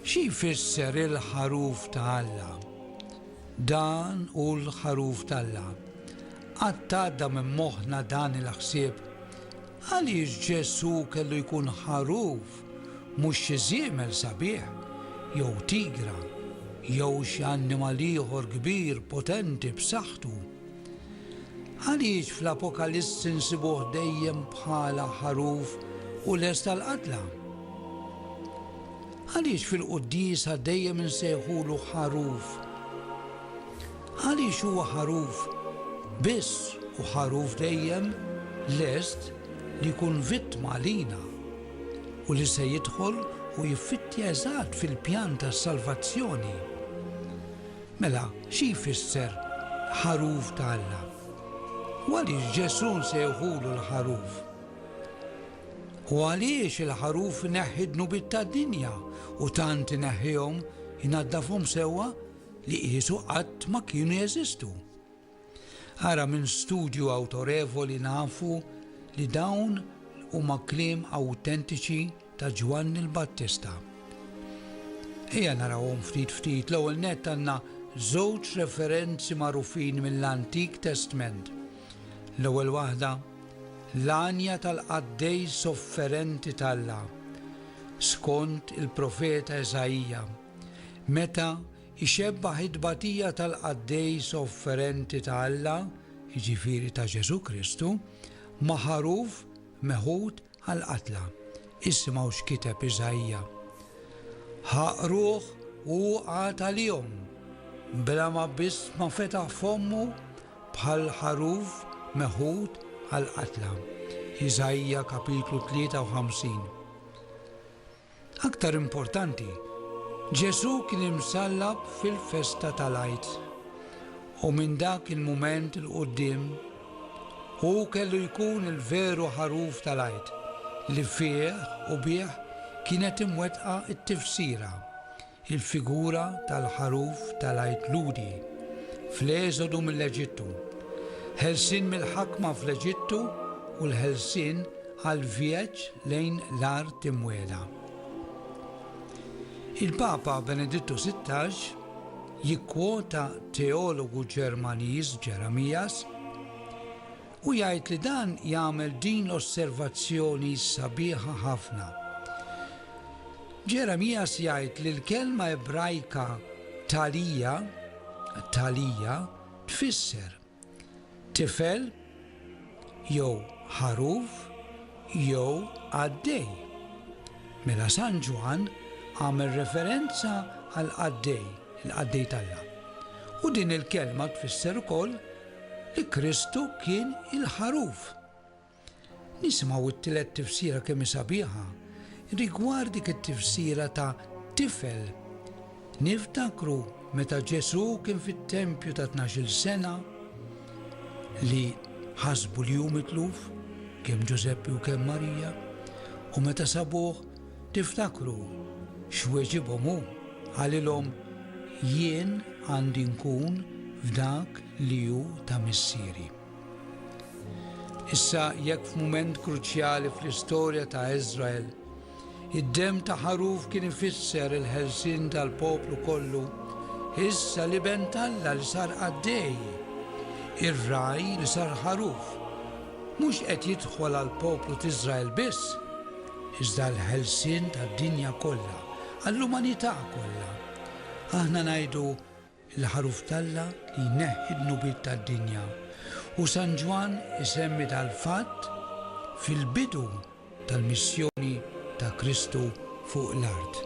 Xi jfisser il-ħaruf ta' Alla? Dan hu l-ħaruf t'Alla. Qatt għadda minn moħħna dan il-ħsieb? Għaliex Ġesù kellu jkun ħaruf, mhux xi żiemel sabiħ, jew tigra, jew xi annimal ieħor kbir, potenti, b'saħħtu? Għaliex fl-Apokalissi nsibuh dejjem bħala ħaruf u lest għall-qatla? Għaliex fil-Quddiesa dejjem insejħulu ħaruf? Għaliex huwa ħaruf biss u ħaruf dejjem lest li jkun vittma għalina u li se jidħol u jiffittja eżatt fil-pjan tas-salvazzjoni? Mela, xi jfisser ħaruf ta' Alla? U għaliex Ġesù nsejħulu l-ħaruf? U għaliex il-ħaruf ineħħi d-dnubiet tad-dinja u tant ineħħihom, inaddafhom sewwa li qiesu qatt ma kienu jeżistu? Ara minn studju awtorevoli nafu li dawn huma kliem awtentiċi ta' Ġwanni l-Battista. Ejja narawhom ftit ftit l-ewwel nett għandna żewġ referenzi magħrufin mill-Antik Testment. L-ewwel waħda l-għanja tal-qaddej sofferenti t'Alla, skont il-profeta Eżaija, meta ixebbah it-tbatija tal-qaddejs sofferenti ta' Alla, jiġifieri ta' Ġesù Kristu, ma' ħaruf meħud għall-qatla. Isimgħu x'kiteb Iżaija, Ħa qruh u hu qagħad għalihom, bla ma biss ma fetaħ fommu bħal ħaruf meħud għall-qatla. Iżaija kapitlu 53. Aktar importanti, Ġesù kien imsallab fil-festa tal-Għid, u minn dak il-mument 'il quddiem hu kellu jkun il-veru ħaruf tal-Għid li fih u bih kienet imwettqa t-tifsira Il-figura tal-ħaruf tal-Għid Lhudi fl-Eżodu mill-Eġittu, ħelsien mill-ħakma fl-Eġittu u l-ħelsien għall-vjeġġ lejn l-Art Imwiegħda. Il-Papa Benedittu Sittax jikkwota teologu Ġermaniż Jeremias, Hu jgħid li dan jagħmel din l-osservazzjoni sabiħa ħafna. Ġeremias jgħid li l-kelma Ebrajka thalija, thalija, tfisser tifel jew ħaruf jew qaddej. Mela San Ġwann għamel referenza għal qaddej, il-qaddej talla. U din il-kelma tfisser ukoll li Kristu kien il-Ħaruf. Nisimgħu t-tielet tifsira kemm hi sabiħa rigward dik it-tifsira ta' tifel. Niftakru meta Ġesù kien fit-tempju ta' tnax-il sena li ħasbu li hu mitluf, kemm Ġużeppi u kemm Marija, u meta sabuh Tiftakru x'weġibhom hu? Qalilhom, Jien għandi nkun f'dak li hu ta' Missieri. Issa, jekk f'mument kruċjali fl-istorja ta' Iżrael, id-demm ta' ħaruf kien ifisser il-ħelsien tal-poplu kollu, issa l-Iben t'Alla li sar qaddej, ir-ragħaj li sar ħaruf, mhux qed jidħol għall-poplu t'Iżrael biss, iżda l-ħelsien tad-dinja kollha, għall-umanità kollha. Aħna ngħidu l-Ħaruf t'Alla li jneħħi d-dnubiet tad-dinja, u San Ġwann isemmi dal-fatt fil-bidu tal-missjoni ta' Kristu fuq l-art.